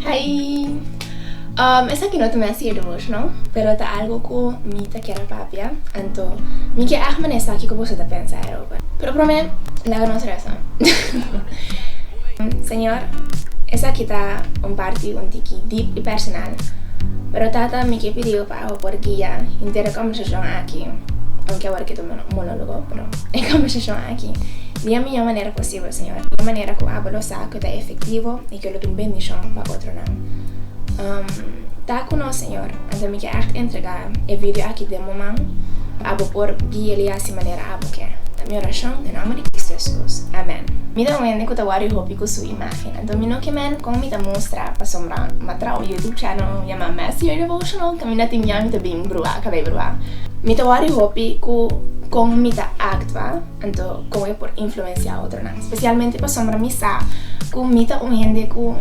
Hi! Um, esaki no ta mester e door, no? Pero ta algo cu mi ta kier a papia, anto mi ke aht mane esaki cu boso ta pensa aroba. Pero prome, laga nos resa. Señor, esaki ta un parti un tiki deep y personal, pero tata mi ke pidiu pa Bo por guia henter e combersacion aki, aunke awor ke ta un monologo, pero e combersacion aki, di a miyo manera posible. Sigur, Señor, e manera cu abo lo sa cu ta efectivo y cu lo tin bendicion pa otronan. Um ta cu nos, Señor. Anto mi ke echt entrega e video aki den bo man, pa abo por guia el y haci manera abo ke. Ta mi oracion den nomber di Cristo Jesus. Amen. Mi ta un hende cu ta worry hopi cu su imagen, anto mi no ke mende con mi ta mustra pasobra mi a traha un YouTube channel yama Master Your Devotional cu mi no tin miau y mi ta bin brua cabey brua. Mi ta worry hopi cu con mi ta actua. Anto kon e por influensiá otronan, spesialmente pasobra mi sa ku mi ta un hende ku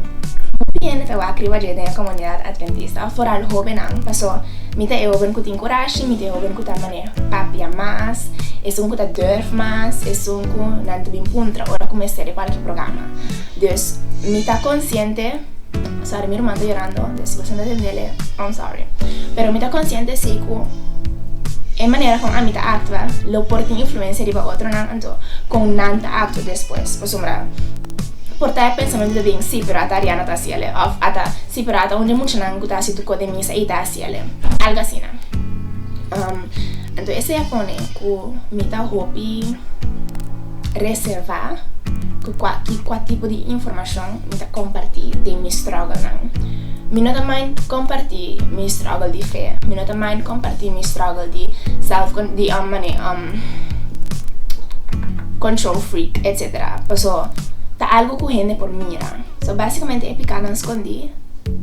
hopi hende ta wak riba dje den e komunidat adventista, foral hóbennan. Pasó mi ta e hóben ku tin kurashi, mi ta e hóben ku ta manera papia mas, esun ku ta dùrf mas, esun ku nan ta bin puntra ora ku mester e kualke programa. Dus mi ta konsiente. Sorry mi ruman ta yorando den si boso no ta tendele I'm sorry pero mi ta konsiente si ku e manera kon ami ta aktua lo por tin influensia riba otronan anto kon nan ta aktua despues pasobra por ta e pensamentu ta bin si pero ata Ariana ta hasiele òf ata si pero ata un di e muchanan ku ta hasi tukó den misa ei ta hasiele algu asina anto esei a pone ku mi ta hopi. reservá ku kua i kua tipo di informashon mi ta kompartí den mi strògelnan. Mi no ta mind kompartí mi strògel di fe, mi no ta mind kompartí mi strògel di self di um mane um control freak etsetera paso ta algu ku hende por mira. So básikamente e pikanan skondí,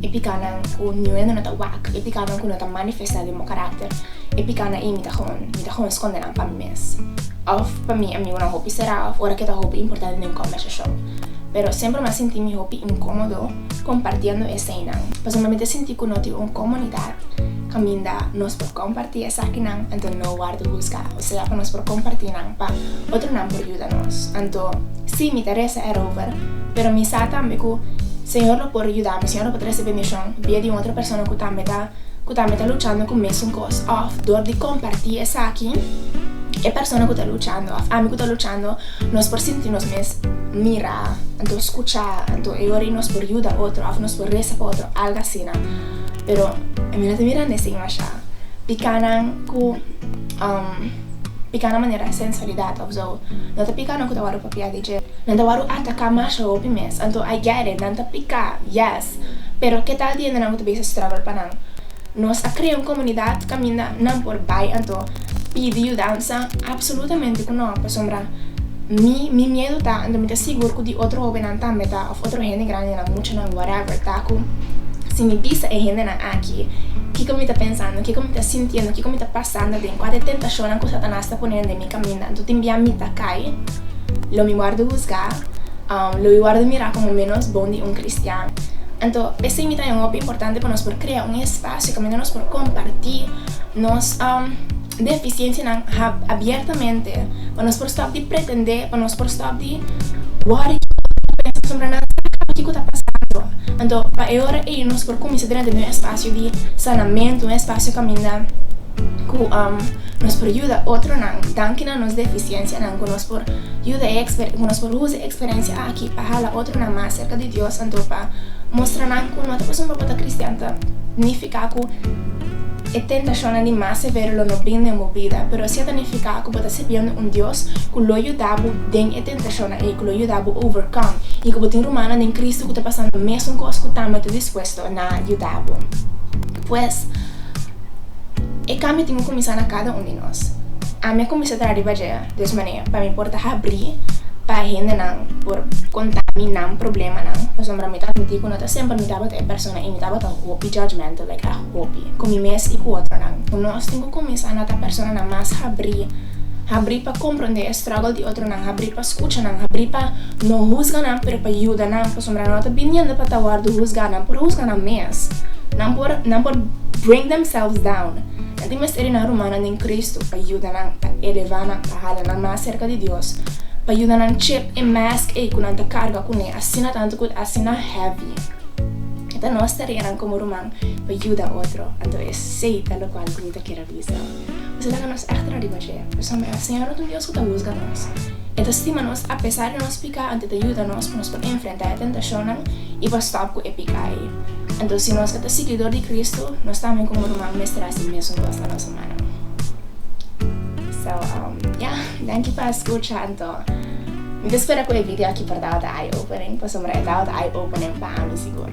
e pikanan ku niun hende no ta wak, e pikanan ku no ta manifestá den bo karakter, e pikanan ei mi ta hon mi ta hon skonde nan pa mi mes. mes. Òf pa mi amigonan hopi será òf ora ke ta hopi importante den kòmbersashon. Pero semper mi a sinti mi hopi inkómodo kompartiendo eseinan. Pasobra mi mester sinti ku no tin un komunidat kaminda nos por kompartí esakinan anto no wòrdu husgá. Osea pa nos por kompartí nan pa otronan por yuda nos. Anto sí, mi ta resa erover, pero mi sa tambe ku Señor lo por yuda mi, Señor lo por trese bendishon via di un otro persona ku tambe ta. ku tambe ta luchando ku mesun kos òf dor di kompartí esaki e persona ku ta luchando òf ami ku ta luchando nos por sinti nos mes mirá anto skuchá anto e ora i nos por yuda otro òf nos por resa pa otro algu asina pero mi no ta mirando e sin masha piká nan ku piká na manera sensualidat òf so no ta piká nan ku ta wòrdu apropiá di. Nan ta wòrdu atacá masha hopi mes, anto a guere, nan ta picá, yes, pero ke tal di hende nan ku ta bisa struggle pa nan? Nos a crea un comunidad caminda nan por bai anto pidi yudansa absolutamente ku nan, pasobra mi, mi miedu ta, anto mi ta sigur ku di otro hopinan tambe ta, of otro hende grandenan, muchanan, whatever, ta ku si mi bisa e hendenan aki kiko mi ta pensando, kiko mi ta sintiendo, kiko mi ta pasando den, kua ta e tentashonnan ku Satanas ta pone den mi. Caminda anto tin bia mi ta cay lo mi wordo husga lo mi wordo mira como menos bon di un cristian anto esey mi ta e un hopi importante pa nos por crea un espacio caminda nos por comparti nos deficiencia nan abiertamente pa nos por stop di pretende pa nos por stop di worry pensa sombra nan sa caba kico ta pasando anto pa e ora ey nos por cuminsa drenta di un espacio di sanamento un espacio caminda. Cu nos por yuda otronan? Danki na nos deficiencianan cu nos por yuda e cu nos por uza e experiencia aki pa hala otronan mas cerca di Dios. Anto pa mustra nan cu no ta pasobra bo ta cristian ta nifica cu e tentacionnan di mas severo lo no brin den bo bida, pero si a ta nifica cu bo ta sirbiendo un Dios cu lo yuda bo den e tentacionnan ey, cu lo yuda bo overcome y cu bo tin rumannan den Cristo cu ta pasando mesun cos cu tambe ta dispuesto na yuda bo. Pues. E kambio tin ku kuminsá na kada un di nos. Ami a kuminsá ta riba dje des manera pa mi por ta habrí pa hendenan por kontá mi nan problemanan pasobra mi ta admití ku no ta semper mi tabata e persona i mi tabata hopi judgemental like a hopi ku mi mes i ku otronan. Ku nos tin ku kuminsá na ta personanan mas habrí, habrí pa komprondé e struggle di otronan, habrí. Pa skucha nan, habri pa no husga nan pero pa yuda nan, pasobra nan no ta biniendo pa ta wòrdu husgá, nan por husga nan mes, nan por nan por bring themselves down. Nan tin mester di nan rumannan den Kristu pa yuda nan, pa elevá nan, pa hala nan mas serka di Dios, pa yuda nan chip e mask ei ku nan ta karga kuné asina tantu ku ta asina heavy. E ta nos tarea nan komo ruman pa yuda otro, anto esei ta lokual ku mi ta kere. Bisa, Esei ta na nos achterna riba dje, pasobra e Señor no ta un Dios cu ta huzga nos. E ta stima nos apesar di nos pica anto e ta yuda nos pa nos por enfrenta e tentacionnan y pa stop cu e pica ei. Anto si nos a ta siguidor di Cristo, nos tambe como ruman mester haci e mesun cos na nos humannan. So, um, ya, danki pa scucha. Anto, mi ta spera cu e video aki por dau ta eye-opening, pasobra e dau ta eye-opening pa ami sigur.